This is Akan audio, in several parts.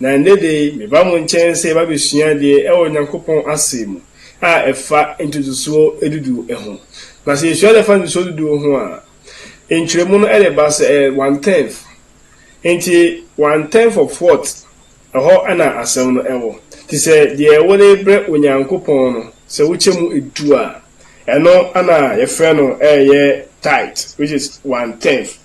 Na ɛnnɛ da yi, meba mo nkyɛn sɛ yɛbɛabɛsua adeɛ wɔ Onyankopɔn Asɛm mu a ɛfa ntotosoɔ dudu ho. Na sɛ yɛsua adeɛ fa ntotosoɔ dudu ho a, nkyerɛmu no de ba sɛ ɛyɛ one tenth. Enti one tenth of what? Ɛhɔ na asɛm no wɔ. Enti sɛ deɛ wode brɛ Onyankopɔn no, sɛ wokyɛ mu du a, ɛno na yɛfrɛ no ɛyɛ tithe, which is one tenth.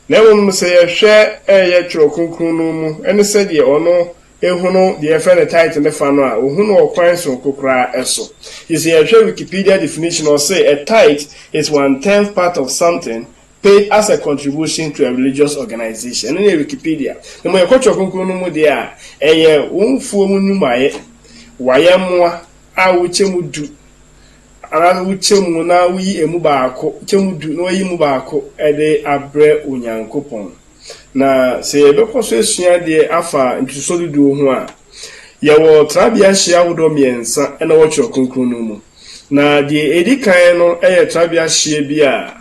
Na mmom no, sɛ yɛhwɛ yɛ Twerɛ Kronkron no mu ne sɛdeɛ ɔno hunu deɛ yɛfrɛ no tithe no fa no a, ɔhu no ɔkwan sononko koraa so. Nti sɛ yɛhwɛ Wikipedia definition a, ɔse, A tithe is one tenth part of something paid as a contribution to a religious organization. Ɛno ne Wikipedia. Na mmom yɛkɔ Twerɛ Kronkron no mu deɛ a, ɛyɛ wo mfuo mu nnwumayɛ, wayɛmmoa a wokyɛ mu du Anaa sɛ wokyɛ mu na woyi emu baako, kyɛ mu du na woayi mu baako de abrɛ Onyankopɔn. Na sɛ yɛbɛkɔ so asua adeɛ afa ntotosoɔ duduo ho a, yɛwɔ trabea hyeɛ ahodoɔ mmiɛnsa na ɛwɔ Twerɛ Kronkron no mu. Na deɛ ɛdi kan no yɛ trabea hyeɛ bi a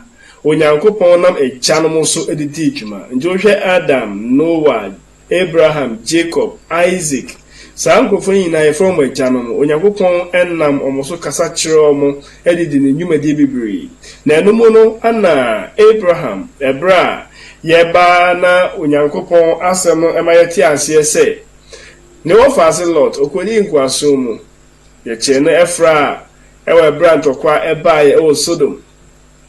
Onyankopɔn nam agyanom so de dii dwuma. Enti wohwɛ Adam, Noa, Abraham, Jacob, Isaac, saa nkorɔfoɔ yi nyinaa yɛfrɛ wɔn agyanom. Onyankopɔn nam wɔn so kasa kyerɛ wɔn de di ne nnwumadie bebree. Na ɛno mu no na Abraham, ɛberɛ a yɛba na Onyankopɔn asɛm no ma yɛte aseɛ sɛ ne wɔfaase Lot, ɔkɔdii nkoasom mu. Yɛkyeree no fra wɔ ɛberɛ a ntɔkwa baeɛ wɔ Sodom.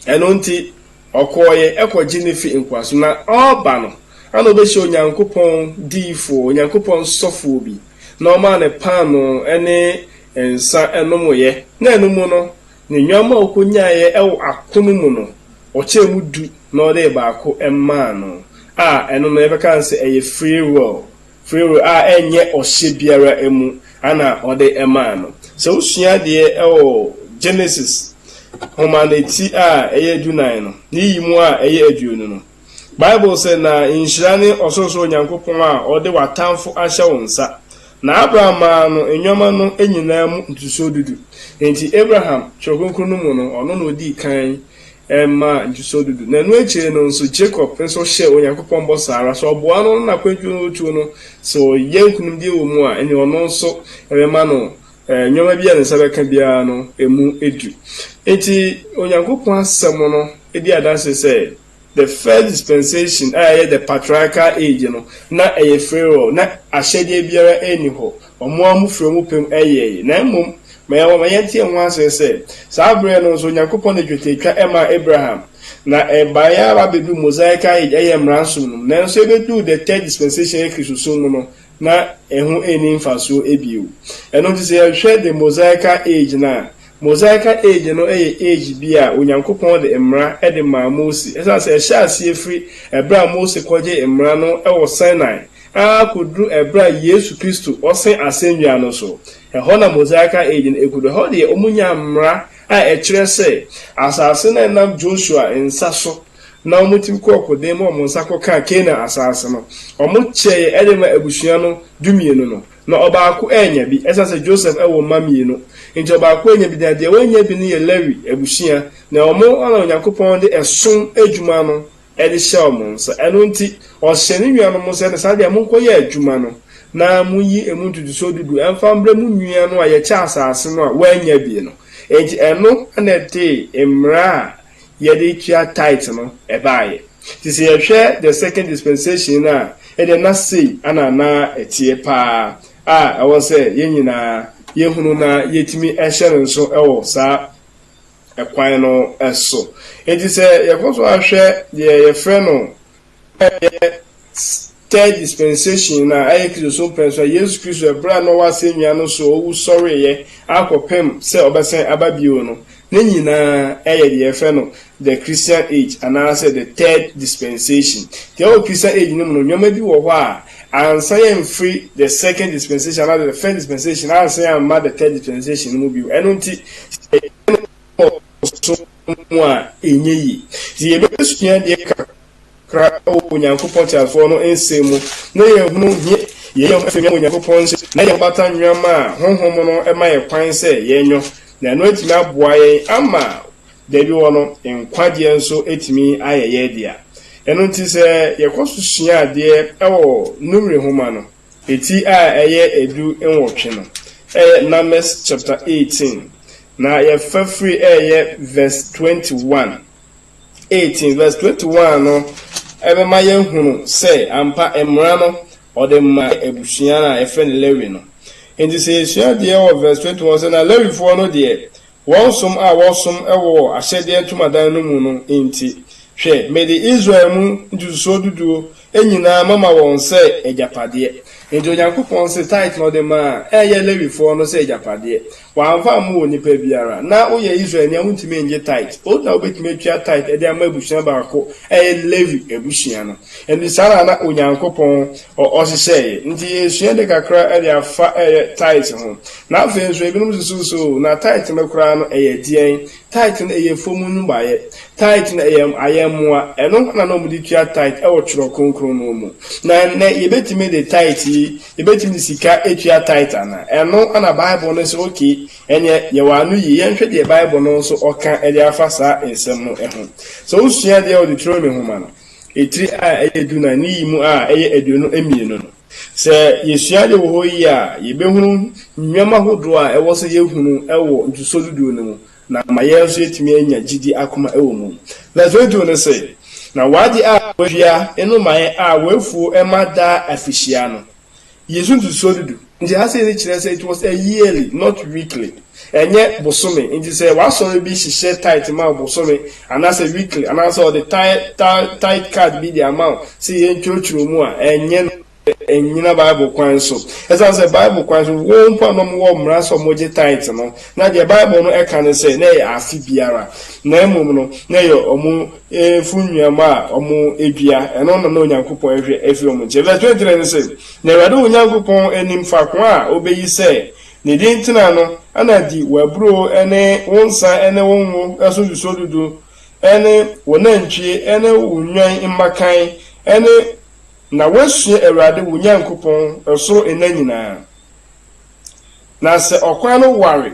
Ɛno nti Ɔkɔeɛ kɔgye no firi nkoasom na ɔreba no, na ɔbɛhyia Onyankopɔn diyifoɔ, Onyankopɔn sɔfoɔ bi, na ɔmaa no paanoo ne nsã nomoeɛ, na ɛno mu no, ne nnwammaa a ɔkɔnyaeɛ wɔ akono mu no, ɔkyɛɛ mu du na ɔde baako maa no, a ɛno no yɛbɛka no sɛ ɛyɛ free will, Farao a ɛnyɛ ɔhyɛ biara mu na ɔde maa no. Sɛ wosua adeɛ wɔ Genesis nwoma no ti a ɛyɛ dunan no ne yi mu a ɛyɛ aduonu no, Bible sɛ, Na nhyira ne Ɔsorosoro Nyankopɔn a ɔde w'atamfo ahyɛ wo nsa. Na Abraham maa no nneɛma no nyinaa mu ntotosoɔ dudu. Enti Abraham, Twerɛ Kronkron no mu no, ɔno na ɔdii kan Ɛmma ntosoɔ du du. Na ɛno akyire no nso, Jacob nso hyɛɛ Onyankopɔn bɔ saa ara. Sɛ ɔboa no ne n'akwantuo no retuo no, sɛ ɔyɛ nkunimdie wɔ mu a, ɛnneɛ ɔno nso ɛbɛma no nneɛma biara a ne nsa bɛka biara no mu du. Enti, Onyankopɔn Asɛm no di adanseɛ sɛ, the first dispensation a ɛyɛ the patriarchal age no, na ɛyɛ Pharaoh, na ahyɛdeɛ biara nni hɔ. Wɔn ara mufrɛ mu pɛ mu yɛe, na mmom ma yɛn ma yɛnte ho asɛm sɛ, saa bere no nso Onyankopɔn de twetiatwa maa Abraham, na ɛbae ara ba beduu Mosaic Age, ɛyɛ Mmara som no mu. Nanso ebeduu the Third Dispensation, ɛyɛ Kristosom mu no, na ɛho nni mfaso bio. Ɛno nti sɛ yɛhwɛ the Mosaic Age no a, Mosaic Age no yɛ age bi a Onyankopɔn de Mmara de maa Mose, esiane sɛ ɛhyɛɛ aseɛ firi bere a Mose kɔgyee Mmara no wɔ Sinai, ara kɔduru berɛ a Yesu Kristo ɔsen asɛnnua no so. Ɛhɔ na Mosaical Age no kɔduru. Ɛhɔ deɛ wɔnyaa mmara a ɛkyerɛ sɛ asase no a ɛnam Joshua nsa so na wɔtumi kɔɔ ɔkoden mu a wɔn nsa kɔkaa Canaan asase no, wɔkyɛeɛ de maa abusua no dumienu no. Na ɔbaako annya bi, ɛsiane sɛ Joseph wɔ mma mmienu nti ɔbaako annya bi, na deɛ wannya bi no yɛ Lewi abusua, na wɔn ara na Onyankopɔn de ɛsom adwuma no de hyɛ wɔn nsa. Ɛno nti, ɔhyɛ ne nuanom nso sɛ, Ne saa deɛ, monkɔyɛ adwuma no, na monyi emu ntotosoɔ du du mfa mbrɛ mo nua no a yɛkyɛ asase no a wannya bi no. Enti ɛno na ɛde mmara a yɛde tua tithe no baeɛ. Enti sɛ yɛhwɛ the second dispensation no a, ɛdeɛ na sei na na ɛteɛ pa ara a ɛwɔ sɛ yɛn nyinaa yɛhunu na yɛtumi hyɛ no nso wɔ saa kwan no so. Enti sɛ yɛkɔ so ara hwɛ deɛ yɛfrɛ no ɛyɛ third dispensation no a, ɛyɛ Kristosom pɛn so a, Yesu Kristo ɛberɛ a na ɔwɔ asɛnnua no so ɔwu sɔreeɛ akɔpem sɛ ɔbɛsan aba bio no, ne nyinaa ɛyɛ deɛ yɛfrɛ no the Christian age anaasɛ the third dispensation. Nti ɛwɔ Christian age no mu no, nneɛma bi wɔ hɔ a, Ansa yɛamfiri the second dispensation anaasɛ the first dispensation ansa yɛamma the third dispensation no mu bio. Ɛno nti, sɛ yɛyɛ no wɔ ɔsom mu a, ɛnyɛ yie. Nti yɛbɛsua deɛ kakra kakra wɔ Onyankopɔn teasefoɔ no nsɛm mu na yɛahunu hia yɛyɛ ho afiewia wɔ Onyankopɔn nsam na yɛabata nnwammaa a honhom no ma yɛn kwan sɛ yɛnyɔ, na ɛno atumi aboa yɛn ama Da bi hɔ no, nkwagyeɛ nso tumi ayɛ yɛn dea. Ɛno nti, sɛ yɛkɔ so sua adeɛ wɔ Numeri nwoma no ti a ɛyɛ du nwɔtwe no, ɛyɛ Numbers chapter eighteen, na yɛfa firi ɛyɛ verse twenty one, eighteen verse twenty one no, ɛbɛma yɛahunu sɛ ampa mmara no ɔde maa abusua no a yɛfrɛ no Lewi no. Nti sɛ yɛsua adeɛ wɔ verse twenty one sɛ, na Lewifoɔ no deɛ Wɔn som a wɔsom wɔ ahyɛdeɛ ntomadan no mu no nti, hwɛ, mede Israel mu ntotosoɔ duduo nyinaa mɛma wɔn sɛ agyapadeɛ. Enti Onyankopɔn se tithe no ɔde maa a ɛyɛ Lewifoɔ no sɛ agyapadeɛ. Wɔamfa ammɔ onipa biara. Ná woyɛ Israelni a wontumi nnye tithe. Wo na wobɛtumi atua tithe de ama abusua baako a ɛyɛ Lewi abusua no. Ɛnti saa na na Onyankopɔn ɔhyehyɛeɛ. Nti yɛresua ade kakra de afa tithe ho. Na afei nso ebinom susuw sɛ oo, na tithe no koraa no ɛyɛ deɛn? Tithe no ɛyɛ fam nnwumayɛ. Tithe no ɛyɛ ayɛmmoa. Ɛno na na wɔde tua tithe wɔ Twerɛ Kronkron no mu. Na ɛnnɛ yɛbɛtumi de tithe yi, yɛbɛtumi de sika atua tithe anaa? Ɛno na Bible no sɛ okay, ɛnneɛ yɛ wo ano yie. Yɛnhwɛ deɛ Bible no nso ɔka de afa saa nsɛm no ho. Sɛ wosua deɛ ɛwɔ Deuteronomy nwoma no, ɛtire a ɛyɛ du nan ne yi mu a ɛyɛ aduonu mmienu no, Sɛ yesua ade wɔ hɔ yiye a, yebehunu nneɛma horow a ɛwɔ sɛ yehunu wɔ ntotoso du du no mu na ama yɛn nso yɛatumi anya gyidi akoma wɔ mu. Leslie too no se, Na w'ade a wɔadua nnomae a wɔafuw ma daa afihyia no, yesu ntotoso du du. Ntease no kyerɛ sɛ it was a yearly, not weekly. Ɛnyɛ bosome nti sɛ w'asɔre bi hyehyɛ tithe ma wo bosome anaasɛ weekly anaasɛ ɔde tithe card bi de ama wo sɛ yɛntwerɛtwerɛ mu a, ɛnyɛ no sɛ ɛnnyina Bible kwan so. Ɛsiane sɛ Bible kwan so wɔn mpo a na wɔwɔ mmara sɛ wɔgye tithe no, na deɛ Bible no ka ne sɛ na ɛyɛ afe biara, na mmom no na ɛyɛ wɔn mfuo nnuama a wɔdua, ɛno na na Onyankopɔn rehwɛ afiri wɔn nkyɛn. Verse 23 no se, Na Awurade wo Nyankopɔn nim faako a ɔbɛyi sɛ Ne din tena no na di w'aburo ne wo nsa ne wo ngo so nsusuo dudu ne wo nantwie ne wo nnwan mmakan ne na woasua Awurade wo Nyankopɔn soro nna nyinaa. Na sɛ ɔkwan no ware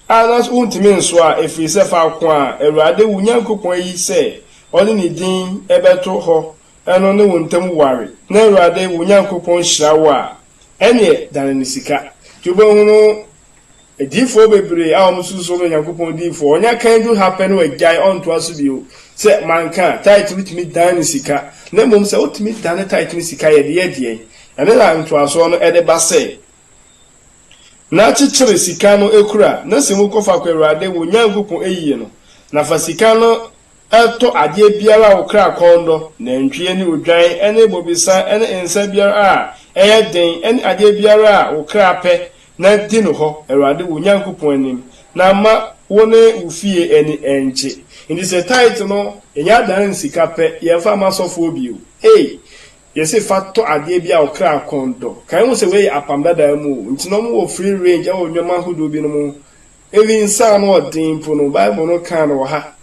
a na so wontumi nso a, ɛfiri sɛ faako a Awurade wo Nyankopɔn ayi sɛ ɔde ne din bɛto hɔ no ne wo ntam ware na Awurade wo Nyankopɔn hyira wo a, Ɛnneɛ dane no sika. Nti wobɛhu no adiyifoɔ bebree a wɔsusu sɛ wɔyɛ Onyankopɔn diyifoɔ, wɔnya kan du ha pɛ na wɔagyae, wɔntoa so bio. Sɛ manka a, tithe no tumi dan ne sika. Na mmom sɛ wotumi dane tithe ne sika a, yɛde yɛ deɛn? Ɛno na ntoasoɔ no de ba sɛ, Na kyekyere sika no kura, na sɛ mokɔ faako a Awurade wo Nyankopɔn ayi no, na fa sika no Tɔ adeɛ biara a wo kra kɔn dɔ, nantwie ne odwan ne bobesa ne nsã biara a ɛyɛ den ne adeɛ biara a wo kra pɛ, na di no hɔ Awurade wo Nyankopɔn anim, na mma wo ne wo fie ani nnkye. Enti sɛ tithe no, ɛnyɛ adan ne sika pɛ, yɛmfa mma asɔfoɔ bio. Ei! Yɛse fa tɔ adeɛ biara a wo kra kɔn dɔ. Kae ho sɛ wei yɛ Apam Dadaa mu o, enti na wɔwɔ free range wɔ nnoɔma ahodoɔ binom ho Eli nsa a ano yɛ den mpo no, Bible no kaa no wɔ ha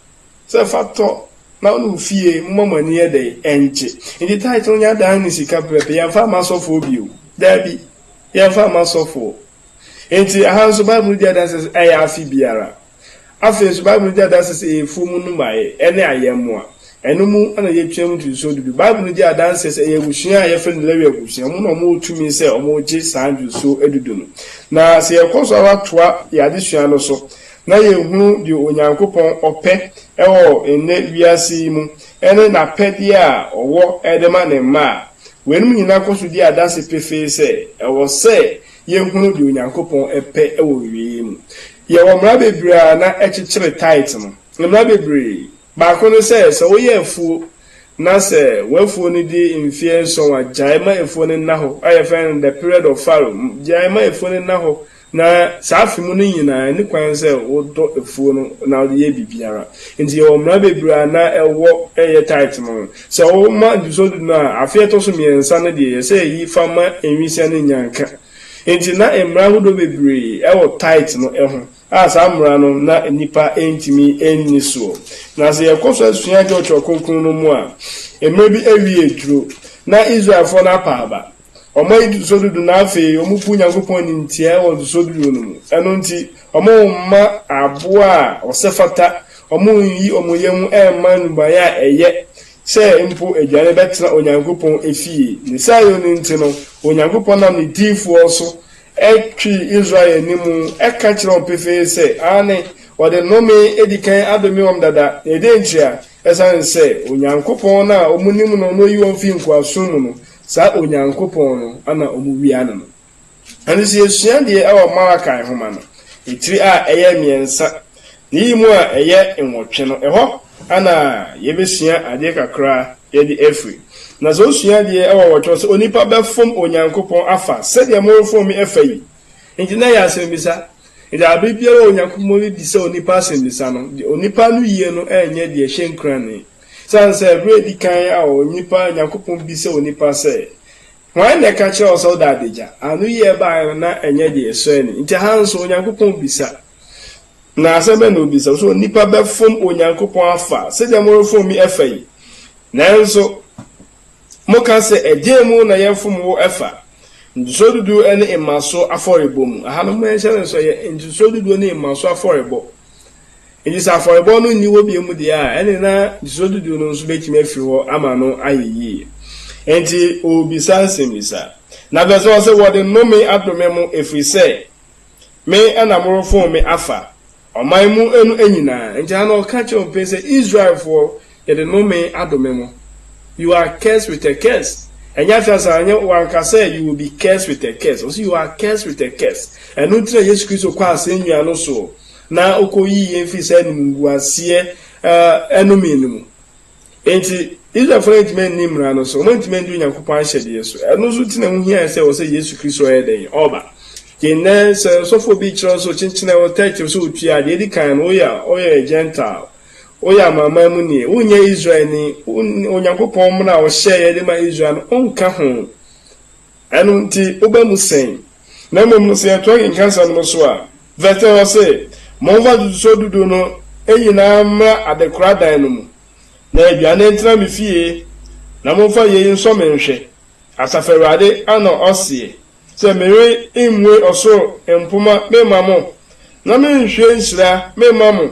sɛ, Fa tɔ, na wo ne wo fie momma mo ani nyɛ dɛn? Nnye. Enti tithe no nyɛ adan ne sika prɛte, yɛmfa mma asɔfoɔ bio. Dabi, yɛmfa mma asɔfoɔ. Enti ɛha nso Bible no di adanse sɛ ɛyɛ afe biara. Afei nso Bible no di adanse sɛ ɛyɛ afuo mu nnomaeɛ ne ayɛmmoa. Ɛno mu na yɛtwam ntotosoɔ du du. Bible no di adanseɛ sɛ ɛyɛ abusua a wɔfrɛ no Lewi abusua. Wɔn na wɔwɔ tumi sɛ wɔgye saa ntotosoɔ du du no. Na sɛ yɛkɔ so ara toa yɛn adesua no so na yɛhunu deɛ Onyankopɔn ɔpɛ wɔ nnɛ wiase yi mu ne n'apɛdeɛ a ɔwɔ de ma ne mma a, weinom nyinaa kɔ so di adanse pefee sɛ ɛwɔ sɛ yɛhunu deɛ Onyankopɔn pɛ wɔ awieeɛ mu. Yɛwɔ mmara bebree a na ɛkyekyere tithe no. Mmara bebree. Baako ne sɛ, sɛ woyɛ afuo na sɛ w'afuo no di mfeɛ nson a, gyae ma afuo no nna hɔ, a yɛfrɛ no the period of fallow, gyae ma afuo no nna hɔ, na saa afe mu no nyinaa ɛnni kwan sɛ wodɔ afuo no na wode yɛ biribiara. Nti yɛwɔ mmara bebree a na ɛwɔ ɛyɛ tithe no ho. Sɛ woma ntotosoɔ du no a, afe a ɛtɔ so mmiɛnsa no deɛ yɛsɛ yɛyi fa ma nwisiaa no nya nka. Nti na mmara ahodoɔ bebree wɔ tithe no ho. a saa mmara no na nnipa ntumi nni soɔ. Na sɛ yɛkɔ so sua twerɛtoɔ kronkron no mu a, mmerɛ bi awie aduro, na Israelfoɔ no apa aba, wɔayi ntotosoɔ dudu na afei wɔbu Nyankopɔn animtiaa wɔ ntotosoɔ dudu no mu, ɛno nti wɔmma aboa a ɔsɛ fata, wɔnyi wɔn yam mma nnubaeɛ a ɛyɛ sɛ mpo aduane bɛtena Onyankopɔn efie. Ne saa yɛ no nti no, Onyankopɔn nam ne diyifoɔ so twi Israel anim ka kyerɛ wɔn pefee sɛ, aane, wɔde nnome adi kan adome wɔn dada, na ɛdeɛn nti a? Ɛsiane sɛ Onyankopɔn no a wɔnim no na ɔyi wɔn firi nkoasom mu no, saa Onyankopɔn no na wɔwia no no. Ɛno nti yɛsua deɛ ɛwɔ Malachi nwoma no tiri a ɛyɛ mmiɛnsa Iyi mu a ɛyɛ nwɔtwe no, hɔ na yebesua adze kakra yɛdze efir. Na dza osua adze wɔ nwɔtwe no, sɛ onipa bɛfom Onyankopɔn afa sɛdeɛ morefom me fa yi. Ntsi na ɛyɛ asɛmbisa. Ntsi aber biara a Onyankopɔn rebisa onipa asɛmbisa no, onipa no yie no nnyɛ dze ɛhyɛ nkuran ne. Osian sɛ ber a edzi kan a onipa, Nyankopɔn bisa onipa sɛ, Hwan na ɛka kyerɛɛ wo sɛ woda adagya? Anoyi a ɛbae no na ɛnnyɛ dze ɛsɔ ani. Ntsi ha nso, Onyankopɔn bisa. Na asɛm bɛn na obisa? So nnipa bɛfom Onyankopɔn afa sɛdeɛ morefom me afa yi? Nanso, moka sɛ, Ɛdeɛn mu na yɛfom wo afa? Ntotosoɔ dudu ne mmasoɔ afɔrebɔ mu. Aha no, moanhyɛ no nso, ɛyɛ ntotosoɔ dudu ne mmasoɔ afɔrebɔ. Enti sɛ afɔrebɔ no nni hɔ bio mu deɛ a, ɛne na ntotosoɔ dudu no nso bɛtumi afiri hɔ ama no ayɛ yie. Enti ɔrebisa nsɛmmisa. Na verse 1 ɔse, Wɔde nnome adome mo, ɛfiri sɛ. Me na morofon me afa ɔman mu no nyina. Enti ha no ɔka kyerɛ wɔn pɛn sɛ, Israelfoɔ, yɛde nnome adome mo. You are cursed with a curse. Ɛnyɛ afei ansa, ɛnyɛ wanka sɛ you will be cursed with a curse. Ɔse you are cursed with a curse. Ɛno nti na Yesu Kristo kɔɔ asɛnnua no soɔ na ɔkɔyii yɛn firii saa animguaseɛ ɛnome no mu. Enti, Israelfo no antumi anni Mmara no so, wɔantumi andi Onyankopɔn ahyɛdeɛ so. Ɛno nso nti na ɛho hiae sɛ ɛwɔ sɛ Yesu Kristo yɛ dɛn? Ɔba. Yɛn nnɛ, sɛ ɔsɔfoɔ bi rekyerɛ wo sɛ ɔkyenkyenɛ wo tɛkyerɛ sɛ ɔtua a, deɛ ɛdi kan no, woyɛ woyɛ Gentile, woyɛ Amanaman mu ni, wonyɛ Israelni, Onyankopɔn mmara a ɔhyɛeɛ de ma Israel no, wonka ho. Ɛno nti, woba mu sɛn? Na mmom no, sɛ yɛtoa kenkan asɛm no so a, vɛs 10 hɔ se, Momfa atotosoɔ dudu no nyina ara mmra adekora dan no mu, na aduane ntena me fie, na momfa yei nsɔ me nhwɛ, Asafo Awurade na ɔseɛ, sɛ meremmue ɔsoro mpoma memma mo, na merenhwie nhyira memma mo,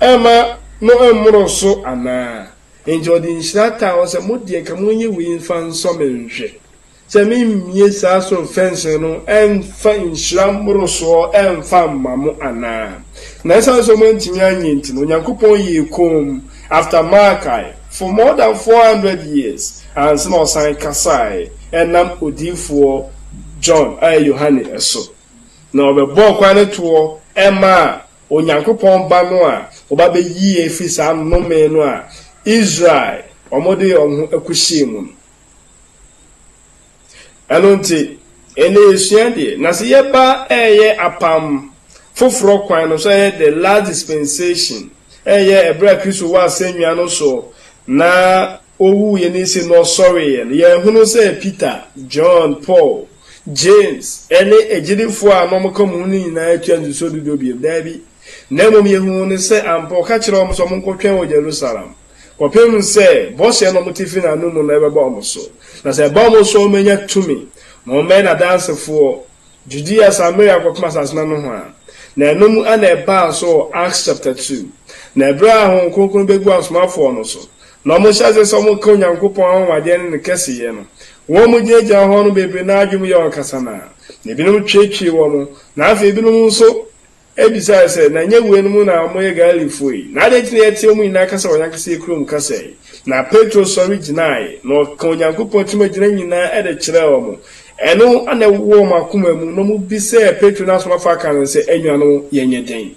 mma no mmoro so anaa? Enti ɔde nhyira taa wɔn sɛ, Mo deɛ, ka monyɛ wei mfa nsɔ me nhwɛ, sɛ meremmue saa soro mfɛnsere no mfa nhyira mmorosoɔ mfa mma mo anaa. Na ɛsiane sɛ moantumi anyɛ nti no, Onyankopɔn yɛɛ komm, after Malkae, for more than four hundred years, ansa na ɔsan kasaeɛ ɛnam odiyifoɔ John, ɛyɛ Yohane, so, na ɔbɛbɔɔ kwan no toɔ maa Onyankopɔn Ba no a wɔba bɛyi yɛn afiri saa nnome no a Israel wɔde wɔn ho kɔhyɛɛ mu no. Ɛno nti, ɛnnɛ yɛsua deɛ, na sɛ yɛba reyɛ apam foforɔ kwan no so, ɛyɛ the last dispensation, ɛyɛ ɛberɛ a Kristo wɔ asɛnnua no so na owuiɛ no nse na ɔsɔreeɛ no, yɛhunu sɛ Peter, John, Paul, James, ne agyidifoɔ a na wɔka wɔn ho no nyinaa tua ntotosoɔ du du bio? Daabi. Na mmom yɛhunu no sɛ ampa ɔka kyerɛɛ wɔn sɛ wɔnkɔtwɛn wɔ Jerusalem kɔpem sɛ bɔhyɛ no a wɔte firi n'anomu no bɛba wɔn so, na sɛ ɛba wɔn so a wɔbɛnya tumi ma wɔmmɛyɛ n'adansefoɔ Judea, Samaria kɔpem asase no anohoa. Na ɛno mu na ɛbaa so wɔ Acts chapter two. Na ɛberɛ a Honhom Kronkron bɛguu asomafoɔ no so Na wɔhyɛ ase sɛ wɔka Onyankopɔn anwanwadeɛ ne ne kɛseyɛ no. Wɔn mu gyinagyina hɔ no bebree no ara adwene mu yɛ wɔn kasanaa, na ebinom tweetwee wɔn, na afei ebinom nso bisae sɛ, Na ɛnyɛ weinom na wɔyɛ Galilefoɔ yi? Na adɛn nti na yɛteɛ wɔn nyinaa kasa wɔ yɛn ankasa yɛn kurom kasa yi? Na Petro sɔre gyinaeɛ, na ɔkaa Onyankopɔn tumi gyina nyinaa de kyerɛɛ wɔn. Ɛno na ɛwowɔ wɔn akoma mu, na wɔbisaa Petro ne asomafo aka no sɛ, Anuanom, yɛnyɛ dɛn?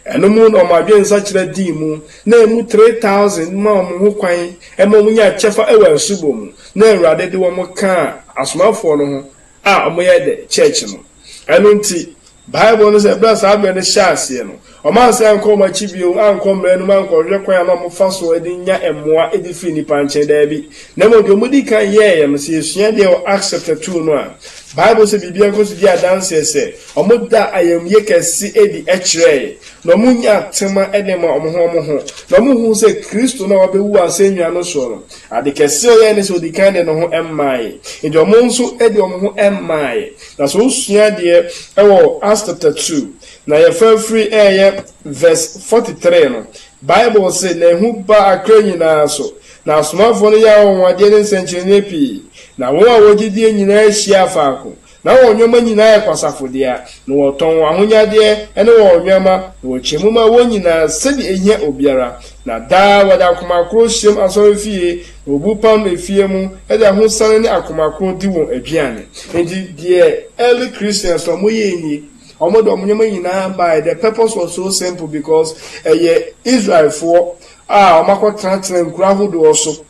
Ɛno mu na wɔn adwene nsakyera dii mu, na emu three thousand maa wɔn ho kwan ma wɔnyaa kyɛfa wɔ asubɔ mu, na Awurade de wɔn kaa asomafoɔ no ho a wɔyɛ the church no. Ɛno nti, Bible no sɛ, berɛ a saa berɛ no hyɛɛ aseɛ no, wɔansan ankɔ wɔn akyi bio, ankɔ mmara no mu, ankɔhwehwɛ kwan a na wɔfa soɔ de nya mmoa de firi nnipa nkyɛn, daabi, na mmom deɛ wɔdii kan yɛeɛ no, sɛ yɛsua deɛ wɔ Acts chapter two no a, Bible sɛ biribiara kɔ so di adanseɛ sɛ, Wɔdaa ayamye kɛse adi kyerɛe, na wɔnyaa tema de maa wɔn ho wɔn ho, na wɔhuu sɛ Kristo no a wabewu asennua no so no, ade kɛse a ɔyɛe ne sɛ odi kan de ne ho mae. Enti wɔn nso de wɔn ho mae. Na sɛ wosua adeɛ wɔ Acts chapter two, na yɛfa firi ɛyɛ verse forty three no, Bible se, Na ehu baa akra nyinaa so, na asomafoɔ no yɛɛ anwanwadeɛ ne nsɛnkyerɛnneɛ pii, na wɔn a wɔgye die nyinaa hyiaa faako, Na wɔn nnoɔma nyinaa yɛ kwasafo dea, na wɔtɔn wɔn ahonyadeɛ ne wɔn nnoɔma, na wɔkyɛ mu ma wɔn nyinaa sɛdeɛ ɛhia obiara, na daa wɔde akoma koro hyiam asɔrefie, na wɔbu pam no efie mu, de ahosane ne akoma koro di wɔn aduane. Enti deɛ early Christians no wɔyɛɛ nie, wɔde wɔn nnoɔma nyinaa maeɛ, the purpose was so simple because ɛyɛ Israelfoɔ a wɔakɔtenatena nkuro ahodoɔ so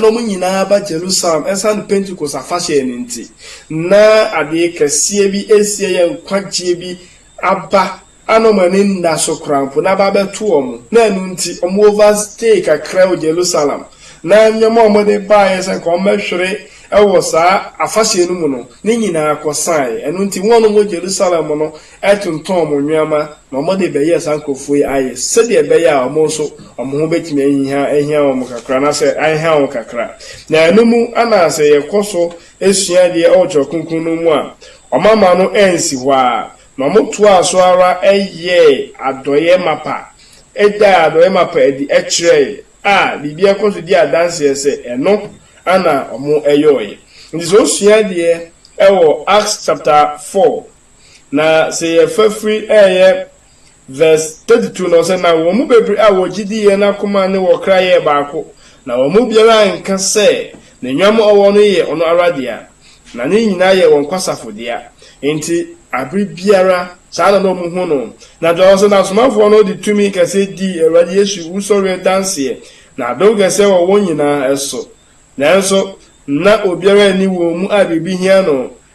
na wɔn nyinaa ba Jerusalem ɛsiane Pentekost afahyɛ no nti, na adeɛ kɛseɛ bi resi ɛyɛ nkwagyeɛ bi aba a na wɔn ani nna so koraa mpo na aba abɛto wɔn, na ɛno nti wɔn overstay kakra wɔ Jerusalem, na nneɛma a wɔde baeɛ sɛ nka wɔbɛhwere wɔ saa afahyɛ no mu no, ne nyinaa kɔsaeɛ, ɛno nti wɔn a wɔwɔ Jerusalem no tontɔn wɔn nneɛma ma wɔde rebɛyɛ saa nkurɔfoɔ yi ayɛ sɛdeɛ ɛbɛyɛ a wɔn nso wɔn ho bɛtumi ahia ahia wɔn kakra anaasɛ ahia wɔn kakra. Na ɛno mu na sɛ yɛkɔ so sua adeɛ wɔ Twerɛ Kronkron no mu a, wɔamma no ansi hɔ ara, na wɔtoaa so ara yɛɛ adɔeɛ mapa, daa adɔeɛ mapa adi kyerɛeɛ a biribiara kɔ so di adanseɛ sɛ ɛno na wɔyɔeɛ. Nti sɛ wosua adeɛ wɔ Acts chapter four Na sɛ yɛfa firi ɛyɛ verse 32 no sɛ, na wɔn mu bebree a wɔgye di yɛ n'akoma ne wɔkra yɛɛ baako, na wɔn mu biara anka sɛ ne nnwam a ɔwɔ no yɛ ɔno ara dea, na ne nyinaa yɛ wɔn kwasafo dea. Enti bere biara saa na na wɔhu no. Na kyerɛ sɛ, na asomafoɔ no de tumi kɛseɛ dii Awurade Yesu wusɔreɛ danseɛ, na adom kɛseɛ wɔ wɔn nyinaa so. Nanso na obiara nni wɔn mu a biribi hia no,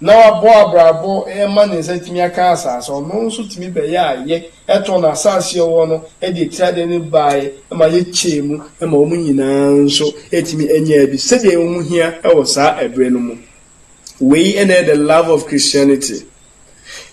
na wabɔ abrabɔ ma ne nsa atumi aka asase, ɔno nso tumi bɛyɛ ayɛ, ɛtɔɔ n'asase a ɔwɔ no de atia deɛ no baeɛ ma yɛkyɛɛ mu ma wɔn nyinaa nso tumi nyaa bi sɛdeɛ ɛho hia wɔ saa ɛberɛ no mu. Wei na ɛyɛ the love of Christianity.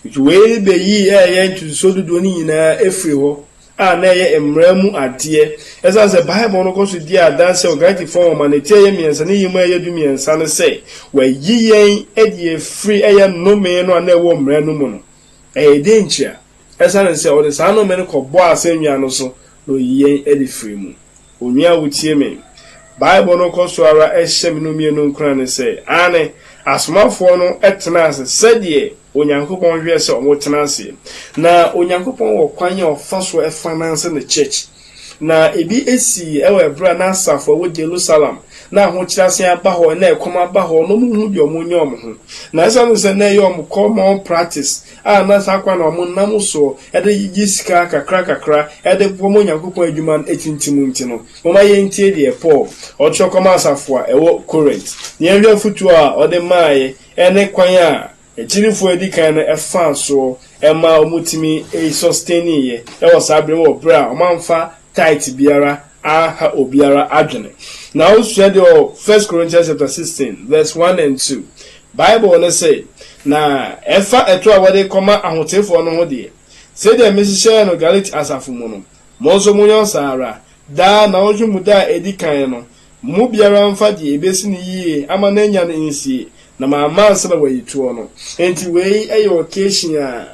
Nti wei bɛyii ɛyɛ ntotosoɔ dodoɔ no nyinaa firii hɔ. a na ɛyɛ mmara mu adeɛ. Ɛsiane sɛ Bible no kɔ so di adanse wɔ Galatifoɔ nwoma no tiaeɛ mmiɛnsa no yem a ɛyɛ dumiɛnsa no sɛ wɔayi yɛn de afiri ɛyɛ nnome no a na ɛwɔ mmara no mu no, ɛyɛ dɛn ntia? Ɛsiane sɛ ɔde saa nnome no kɔbɔɔ asɛnnua no so na ɔyi yɛn de firii mu. Onua a wutie me, Bible no kɔ so ara hyɛ me no mmienu nkuran sɛ, Aane, asomafoɔ no tenaa ase sɛdeɛ Onyankopɔn hwehwɛ sɛ wɔtena ase. Na Onyankopɔn wɔ kwan a ɔfa so fa nanse ne church. Na ebi sii wɔ ɛberɛ a na asafo a ɛwɔ Jerusalem, na ahokyerɛ asan aba hɔ, na ɛkɔm aba hɔ, na wɔnhu deɛ wɔnyɛ wɔn ho. Na esiane sɛ na ɛyɛ wɔn kɔmɔn practice a na saa kwan a wɔnam so de gye sika kakrakakra de boa ma Onyankopɔn adwuma no atintim nti no, momma yentie deɛ Paul ɔtwerɛ kɔmaa asafo a ɛwɔ Korint, na yɛnhwɛ afotuo a ɔde maeɛ ne kwan a akyirifoɔ a ɛdi kan no faa soɔ maa wɔtumi sustaineeɛ wɔ saa berɛ mu wɔ berɛ a wɔamfa Tithe biara anha obiara adwene. Na wosua deɛ wɔ First Corinthians chapter sixteen verse one and two. Bible no se, Na ɛfa ɛto a wɔde rekɔma ahoteefoɔ no ho deɛ, sɛdeɛ mehyehyɛɛ no Galati asafo mu no, mo nso monyɔ saa ara. Daa na ɔhwe mu da a ɛdi kan no, mo mu biara mfa deɛ ɛbɛsi no yie ama no anya no nsie, na mamma ansa na wayi toɔ no. Enti wei yɛ occasion a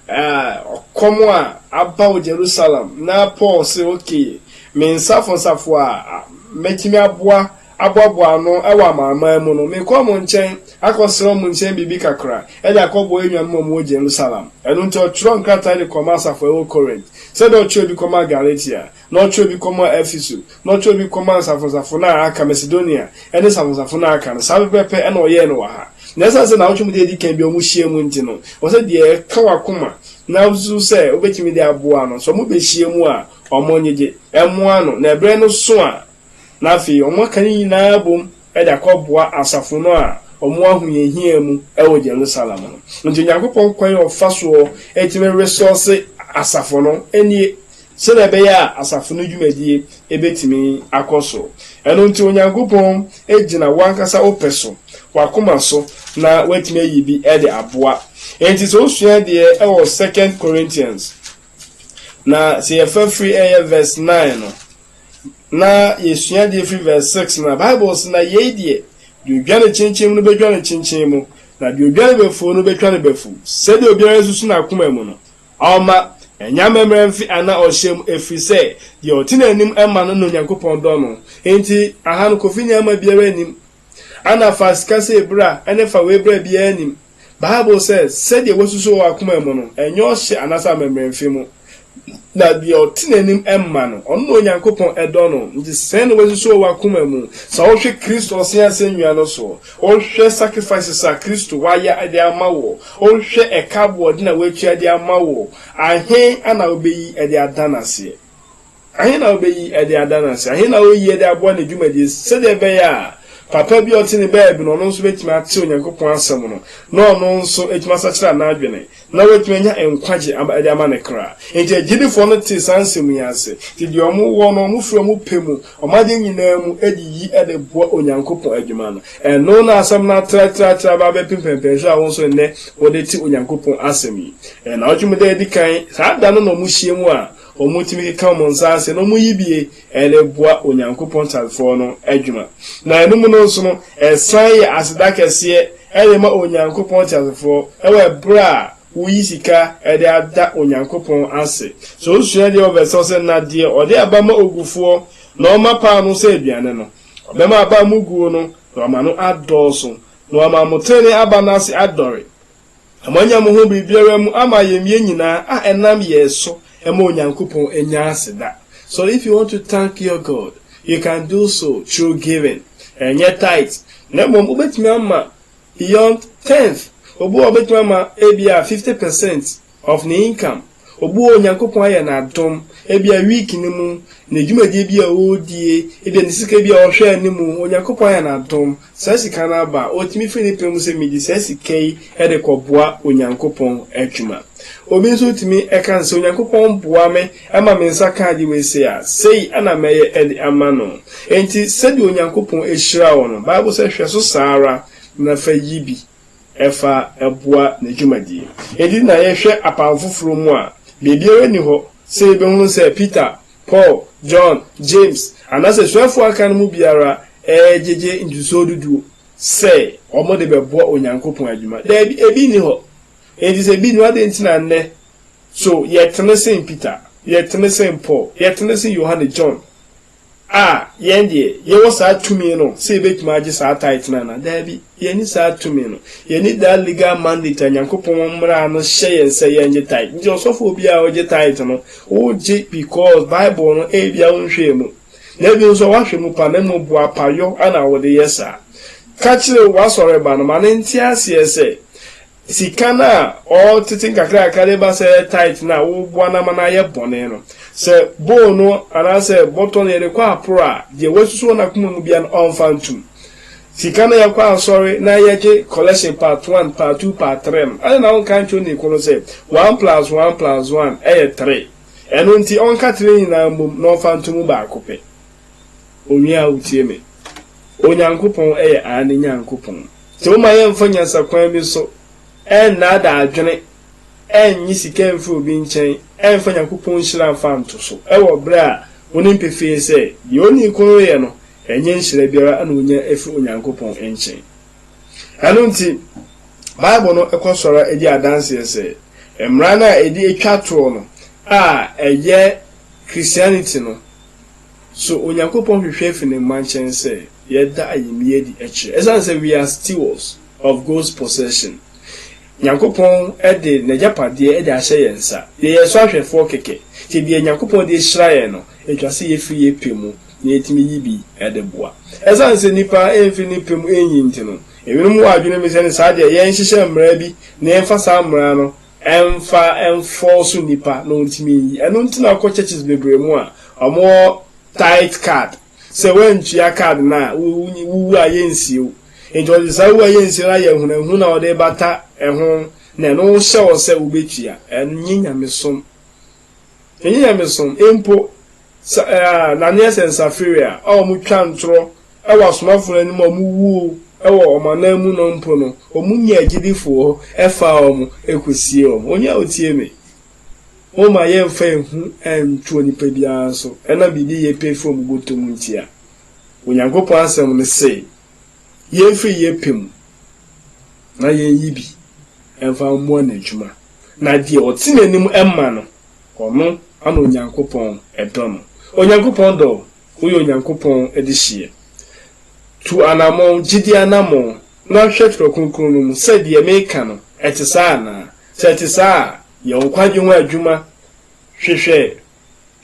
Ah, ɔkɔm a aba wɔ Jerusalem! Ná Paul se, Okay, me nsafosafoɔ a mɛtumi aboa aboaboa ano wɔ amanaman mu no, mekɔ wɔn nkyɛn akɔsrɛ wɔn nkyɛn biribi kakra de akɔboa yɛn nuanom a wɔwɔ Jerusalem. Ɛno nti ɔtwerɛɛ nkrataa de kɔmaa asafo a ɛwɔ Corinth, sɛdeɛ ɔtwerɛɛ bi kɔmaa Galatia, Na ɔtwerɛɛ bi kɔmaa Efeso, na ɔtwerɛɛ bi kɔmaa nsafonansafo no a aka, Macedonia ne nsafonansafo no a aka no, saa pɛpɛɛpɛ na ɔyɛɛ no wɔ ha. Na ɛsiane sɛ nnawɔtwe mu da a ɛdi kan bi a wɔhyiaam nti no, ɛwɔ sɛ deɛ ɛka w'akoma na wosusu sɛ wobɛtumi de aboa no, sɛ wɔbɛhyiaam a, wɔnyegye mmoa no, na ɛberɛ no so a, na afei wɔaka ne nyinaa abom de akɔboa asafo no a wɔwɔ ahohiahia mu wɔ Jerusalem no. Enti Onyankopɔn kwan a ɔfa so tumi resɔɔse asafo no nie sɛdeɛ ɛbɛyɛ a asafo no dwumadie bɛtumi akɔ so. Ɛno nti Onyankopɔn gyina wo ankasa wo pɛ so, w'akoma so na watumi ayi bi de aboa. Enti sɛ wosua adeɛ wɔ Second Corinthians na sɛ yɛfa firi ɛyɛ verse nine no, Na yesua adze efi verse six no a, Bible se, Na yei deɛ, deɛ odwa ne kyenkyen mu no bɛdwa ne kyenkyen mu, na deɛ odwa ne bafuo no bɛtwa ne bafuo, sɛdeɛ obiara susu n'akoma mu no, ɔmma ɛnyɛ amammerɛ mfe anaa ɔhyɛ mu, ɛfiri sɛ, deɛ ɔte n'anim ma no na Onyankopɔn dɔ no. Enti, aha no, Kofi Nyaama biara nnim Anna faa sika sɛ abira ne fa w'abira a biara nnim. Bible sɛ, Sɛdeɛ woasusu wɔ w'akoma mu no, ɛnyɛ ɔhyɛ anaasɛ amammerɛ mfi mu. Na deɛ ɔte n'anim ma no, ɔno na Onyankopɔn dɔ no. Nti sɛn na woasusu wɔ w'akoma mu? Sɛ wohwɛ Kristo ɔse asɛnnua no so, wohwɛ sacrifices a Kristo wayɛ de ama wo, wohwɛ ɛka aboɔden a watua de ama wo, ahe na wobɛyi de ada no aseɛ? Ahe na obeyi de ada no ase? Ahe na oyi de aboa ne dwumadi sɛnea ɛbɛyɛ a papa bi a ɔte ne baabi no, ɔno nso betumi ate Onyankopɔn Asɛm no, na ɔno nso atumi asakyera n'adwene, na watumi anya nkwagye de ama ne kra? Enti agyidifo no tee saa nsɛm yi ase, enti deɛ wɔwɔ no, wɔfiri wɔn pɛ mu, wɔn adeɛ nyinaa mu de yi de boa Onyankopɔn adwuma no. Ɛno na asɛm no atratraatra aba abɛpem pɛmpɛnsoɔ a wo nso nnɛ wode te Onyankopɔn Asɛm yi. Nnawɔtwe mu da a edi kan, saa da no na wɔhyiam a Wɔtumi ka wɔn nsa ase na wɔyi bi de boa Onyankopɔn Tanfoɔ no adwuma. Na ɛno mu no nso no, ɛsan yɛ aseda kɛseɛ de ma Onyankopɔn Teasefoɔ wɔ ɛberɛ a woyi sika de ada Onyankopɔn ase. Sɛ wosua deɛ wɔ vɛs no sɛ, Na deɛ ɔde aba ma ogufoɔ na ɔma paa no sɛ aduane no, ɔbɛma aba a moguo no, na wama no adɔɔso, na wama mo tenenee aba no ase adɔre. Na moanya mo ho biribiara mu ama yɛn mmiɛ nyinaa, a ɛnam yɛn so ɛma Onyankopɔn nya aseda. So if you want to thank your God, you can do so through giving. Ɛnyɛ tithe, na mmom wobɛtumi ama beyond tenth. Obi wɔ hɔ a obɛtumi ama ebia fifty percent of ne income. Obu a Onyankopɔn ayɛ no adom, ebia week no mu, ne dwumadie bi a ɔredie, ebia ne sika bi a ɔhwɛ anim, Onyankopɔn ayɛ no adom, saa sika no aba, ɔtumi firi ne pɛ mu sɛ mede saa sika yi de kɔboa Onyankopɔn adwuma. Obi nso tumi ka no sɛ, Onyankopɔn boa me ma me nsa ka ade wei sei a, sei na mɛyɛ de ama no. Enti sɛdeɛ Onyankopɔn hyira wo no, Bible sɛ hwɛ so saa ara na fa yi bi. ɛfa boa ne dwumadie. Edi na yɛhwɛ Apam Foforɔ mu a, baabiara nni hɔ sɛ yɛbɛhunu sɛ Peter, Paul, John, James, anaasɛ asuafoɔ a aka no mu biara regyegye ntotosoɔ du du sɛ wɔde bɛboa Onyankopɔn adwuma. Daabi, ebi nni hɔ. Enti sɛ ebi nni hɔ a, adɛn nti na nnɛ, so yɛtene sen Peter? Yɛtene sen Paul? Yɛtene sen Yohane, John, A, yɛn deɛ, yɛwɔ saa tumi no sɛ yɛbɛtumi agye saa tithe no anaa? Daabi, yɛnni saa tumi no. Yɛnni that legal mandate a Nyankopɔn mmara no hyɛ yɛn sɛ yɛngye tithe. Nti ɔsɔfoɔ biara a ɔgye tithe no, wogye because Bible no ebia wonhwɛɛ mu. Na ebi nso a woahwɛ mu paa na mmom boapayɔ na wode yɛ saa. Ka kyerɛ w'asɔreba no ma no nte aseɛ sɛ Sika no a ɔtete nkakrankakra de ba sɛ tithe no a woboa no ama no ayɛ bɔne no, sɛ bowl no anaasɛ bɔtɔ no yɛde kɔ aporo a, deɛ wasusu wɔ n'akoma mu biara no, ɔmfa ntom. Sika no a yɛkɔ asɔre na yɛgye collection part one, part two, part three no, adɛn na wonka nkyerɛ onii ko no sɛ one plus one plus one yɛ three? Ɛno nti, ɔnka three nyinaa mmom na ɔmfa nto mu baako pɛ. Onua a wutie me, Onyankopɔn yɛ aane Nyankopɔn. Nti momma yɛmfa nyansakwan bi so ɛnnaadaa adwene, ɛnnye sika mfiri obi nkyɛn, ɛmfa Nyankopɔn nhyira mfa nto so, wɔ berɛ a wonim pefee sɛ, deɛ onii ko no yɛ no, ɛnyɛ nhyira biara na ɔnya firi Onyankopɔn nkyɛn. Ɛno nti, Bible no kɔ so ara di adanseɛ sɛ, mmara no a ɛdi ɛtwa toɔ no a ɛyɛ Christianity no, So Onyankopɔn hwehwɛ fi ne mma nkyɛn sɛ yɛda ayamye adi kyerɛ? Esiane sɛ we are stewards of God's possession, Nyankopɔn de n'agyapadeɛ de ahyɛ yɛn nsa, yɛyɛ so ahwɛfoɔ kɛkɛ, nti deɛ Nyankopɔn de ahyira yɛn no, ɛtwa sɛ yɛfiri yɛn pɛ mu na yɛtumi yi bi de boa. Esiane sɛ nnipa mfiri ne pɛ mu nyi nti no, ebinom wɔ adwene bi sɛ ne saa deɛ yɛnhyehyɛ mmara bi na yɛmfa saa mmara no Ɛmfa mfɔw so nnipa na wɔntumi nyi. Ɛno nti na wokɔ churches bebree mu a, wɔwɔ tithe card. Sɛ woantua card no a, wuwu a yennsie wo. Enti wɔde saa wu a yennsie no ayɛ ahunahuna a wɔde rebata ho na ɛno hyɛ wo sɛ wubetua. Ɛnyɛ nyamesom. Enye nyamesom mpo, sa eh, na neɛ sɛ nsafiri a a wɔn twa ntorɔ wɔ asomafo no anim a wɔn wuo wɔ wɔn anan mu no mpo no, wɔn nyaa agyidifoɔ hɔ faa wɔn kɔsiee wɔn. Onii a otie me, momma yɛn mfa ehu nto onipa biara so ɛnam biribi yɛ pɛ fi wɔn bɔtɔ mu nti a, Onyankopɔn asɛm no se. yɛmfiri yɛn pɛ mu na yɛnyi bi mfa mmoa n'adwuma, na deɛ ɔte n'anim ma no, ɔno na Onyankopɔn dɔ no. Onyankopɔn dɔ wo. Woyɛ Onyankopɔn dehyeɛ. Tu anammɔn, gyidie anammɔn, na hwɛ Twerɛ Kronkron no mu sɛ deɛ meka no, ɛte saa anaa. Sɛ ɛte saa a, yɛ wo nkwagye ho adwuma hwehwɛ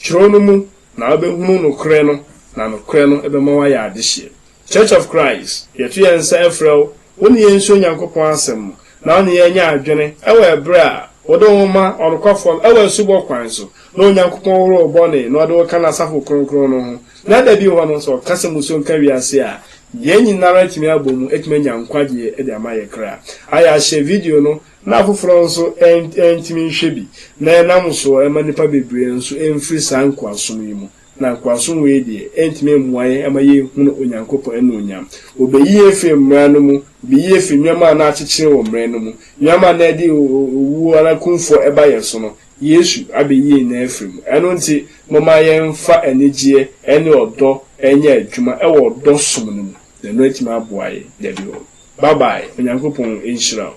Kyerɛw no mu na wobɛhunu nokorɛ no na nokorɛ no bɛma woayɛ adehyeɛ. Church of Christ, yɛto yɛn nsa frɛ wo, wo ne yɛn nsua Onyankopɔn asɛm na wo ne yɛn nyɛ adwene wɔ ɛberɛ a wode wo ma ɔnokwafɔɔ no wɔ asubɔ kwan so na Onyankopɔn hohoro wo bɔne na ɔde wo ka N'asafo kronkron no ho na da bi hɔ no sɛ ɔka sɛ musuo nka wiase a yɛn nyinara atumi abɔ mu atumi anya nkwagyeɛ de ama yɛn kra. Ayɛ ahyɛ video no na afoforɔ nso antumi nhwɛ bi, na ɛnam so ma nnipa bebree nso mfiri saa nkoasom yi mu, na nkoasom wei deɛ ɛntumi mmoa yɛn mma yɛnhunu Onyankopɔn annuonyam. Wɔbɛyi yɛn afiri mmara no mu, wɔbɛyi yɛn afiri nneɛma a na akyekyere wɔ mmara no mu, nneɛma a na ɛde owuo anaa kumfoɔ ɛba yɛn so no, Yesu abɛyi yɛn nyinaa afiri mu. Ɛno nti, momma yɛmfa anigyeɛ ne ɔdɔ nyɛ adwuma wɔ ɔdɔ som no mu. na no etumi aboa yɛn dabi hɔ bye bye onyankopɔn nhyira wo.